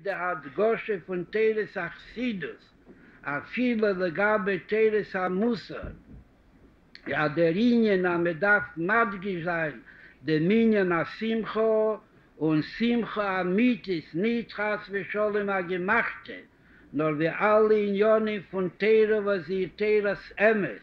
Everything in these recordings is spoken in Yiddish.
די הדגשה פון תורת החסידות אפילו לגבי תורת המוסר אז דער ענין אז מען דארף מדגיש זיין דעם ענין השמחה און שמחה אמיתית נישט חס ושלום א געמאכטע נאר ווי אלע עניינים פון תורה וואס זי איז תורת אמת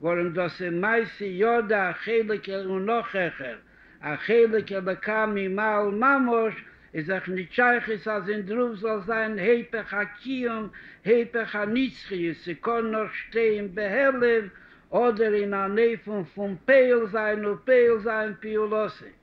ווארום דאס איז מעשה ידע א חלק ער און נאך העכער, א חלק אלקה ממעל ממש, איז דאך ניט שייכות אז אין דרוף זאל זיין היפך הקיום, היפך הנצחיות, ס'קאן נאר שטיין בהעלם, אדער אין א נעפון פון פעל זיין ופועל זיין פעולותיו.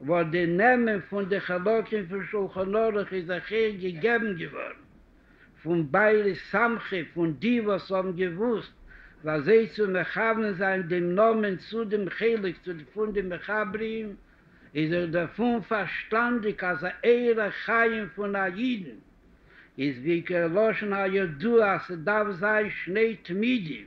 וואס די נעמען פון די חלקים פון שולחן ערוך איז אויך איר געגעבן געווארן פון בעלי סמכות, פון די וואס האבן געוואוסט וואס זיי צו מכוון זיין דעם נאמען צו דעם חלק פון די מחברים, איז אויך דערפון פארשטאנדיק אז א אורח חיים פון א אידן איז בעיקר לשון הידוע אז ס'דארף זיין שני תמידים,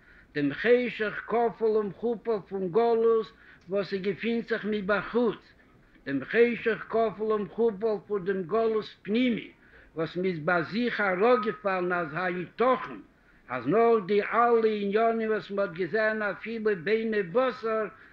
דעם חשך כפול ומכופל פון גלות וואס ס'געפינט זיך מבחוץ, דעם חשך כפול ומכופל פון דעם גלות פנימי וואס מ'איז ביי זיך אראפגעפאלן אז היתכן אז נאך די אלע עניינים וואס מ'האט געזען אפילו בעיני בשר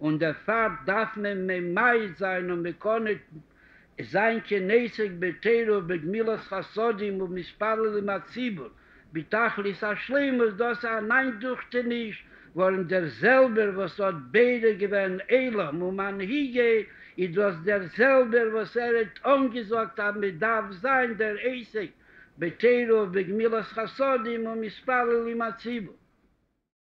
און דערפאר דארף מען ממעט זיין און מקנא זיין כנעסק בתורה ובגמילות חסדים ומתפלל עם הציבור בתכלית השלימות, דאס איז אן איינדוכטעניש ווארום דער זעלבער וואס האט בורא געווען עולם ומנהיגי איז דאס דער זעלבער וואס ער האט אנגעזאגט אז מען דארף זיין דער עוסק בתורה ובגמילות חסדים ומתפלל עם הציבור.